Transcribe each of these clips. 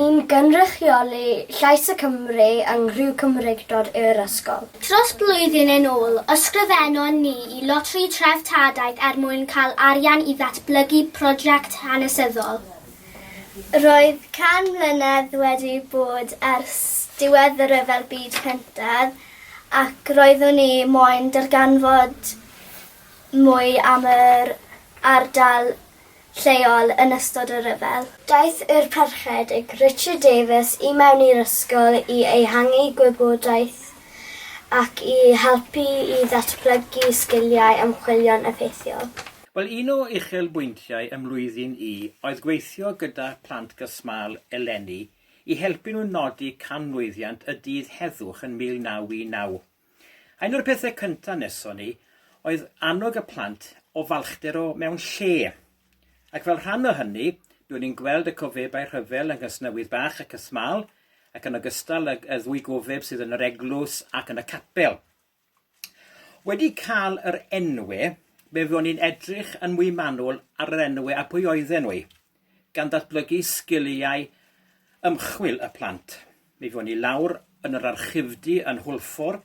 Yn cynrychioli llais y Cymry yng nghriw Cymreictod yr ysgol. Dros blwyddyn yn ôl, ysgrifennon ni i Loteri Treftadaeth er mwyn cael arian i ddatblygu prosiect hanesyddol. Roedd can mlynedd wedi bod ers diwedd y Rhyfel Byd Cyntaf ac roeddwn ni moyn darganfod mwy am yr ardal lleol yn ystod y rhyfel. Daeth yr Parchedig Richard Davies i mewn i'r ysgol i ehangu gwybodaeth ac i helpu i ddatblygu sgiliau ymchwilio'n effeithiol. Wel, un o uchelbwyntiau ym mlwyddyn I oedd gweithio gyda Plant Gysmâl eleni i helpu nhw nodi canmlwyddiant y dydd heddwch yn 1919. Un o'r pethau cyntaf neson ni oedd annog y plant o falchder o mewn lle. Ac fel rhan o hynny, dw'n i'n gweld y cofebau rhyfel yng Nghysnewydd Bach ac y Smâl, ac yn ogystal y y ddwy gofeb sydd yn yr eglws ac yn y capel. Wedi cael yr enwe, fe fuon ni'n edrych yn mwy manwl ar yr enwe a pwy oedden nhw. gan ddatblygu sgiliau ymchwil y plant. Mi fuon ni lawr yn yr archifdy yn Hwlffordd,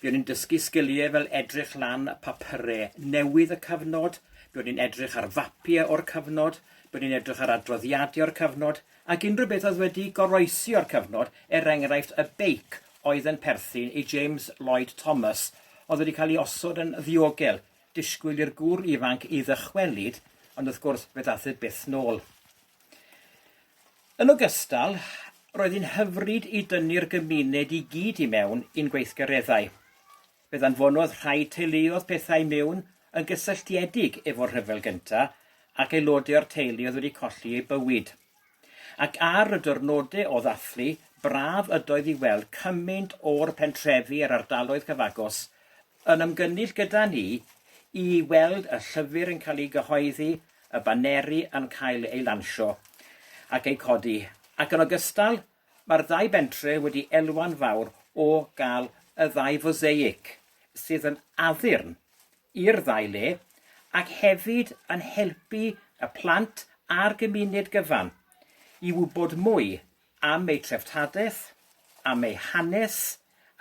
fuon ni'n dysgu sgiliau fel edrych lan papyrau newydd y cyfnod, buon ni'n edrych ar fapiau o'r cyfnod, buon ni'n edrych ar adroddiadau o'r cyfnod, ac unrhyw beth oedd wedi goroesi o'r cyfnod, er enghraifft y beic oedd yn perthyn i James Lloyd Thomas oedd wedi cael ei osod yn ddiogel Disgwyl i'r gŵr ifanc i ddychwelyd, ond wrth gwrs fe ddath e byth nôl. Yn ogystal, roedd hi'n hyfryd i dynnu'r gymuned i gyd i mewn i'n gweithgareddau. Fe ddanfonodd rhai teuluodd pethau mewn yn gysylltiedig efo'r Rhyfel Gyntaf ac aelodau o'r teulu oedd wedi colli eu bywyd. Ac ar y dyrnode o ddathlu, braf ydoedd i weld cymaint o'r pentrefi a'r ardaloedd cyfagos yn ymgynnull gyda ni i weld y llyfr yn cael ei gyhoeddi, y baneri yn cael eu lansio ac eu codi, ac yn ogystal, Mae'r ddau bentre wedi elwa'n fawr o gael y ddau foseic sydd yn addurn i'r ddau le ac hefyd yn helpu y plant a'r gymuned gyfan i wybod mwy am eu treftadaeth, am eu hanes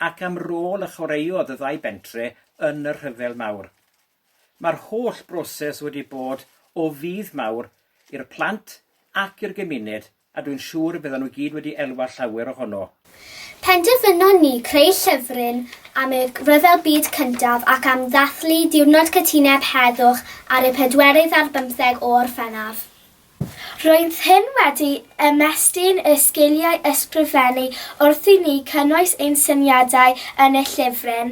ac am rôl a chwaraeodd y ddau bentre yn y Rhyfel Mawr. Mae'r holl broses wedi bod o fudd mawr i'r plant ac i'r gymuned A dwi'n siŵr y byddan nhw i gyd wedi elwa llawer ohono. Penderfynon ni creu llyfryn am y Rhyfel Byd Cyntaf ac am ddathlu Diwrnod Cytuneb Heddwch ar y pedwerydd ar bymtheg o Orffennaf. Roedd hyn wedi ymestyn y sgiliau ysgrifennu wrth i ni cynnwys ein syniadau yn y llyfryn.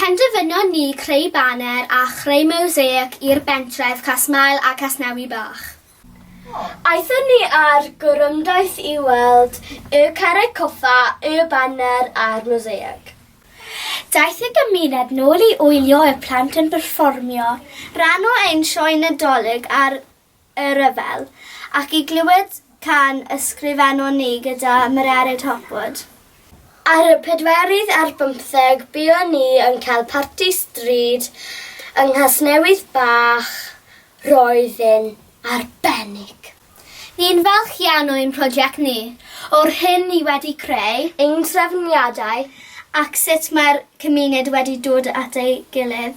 Penderfynon ni creu baner a chreu mosaic i'r bentref Casmael a Casnewy Bach. Aethon ni ar gorymdaith i weld y carreg coffa, y baner a'r mosaic. Daeth y gymuned nôl i wylio y plant yn perfformio ran o ein sioe Nadolig ar y rhyfel, ac i glywed can ysgrifennon ni gyda Mererid Hopwood. Ar y pedwerydd ar bymtheg buon ni yn cael parti stryd yng Nghasnewydd Bach, roedd yn arbennig. Ni'n falch iawn o ein prosiect ni, o'r hyn ni wedi creu, ein trefniadau ac sut mae'r cymuned wedi dod at ei gilydd.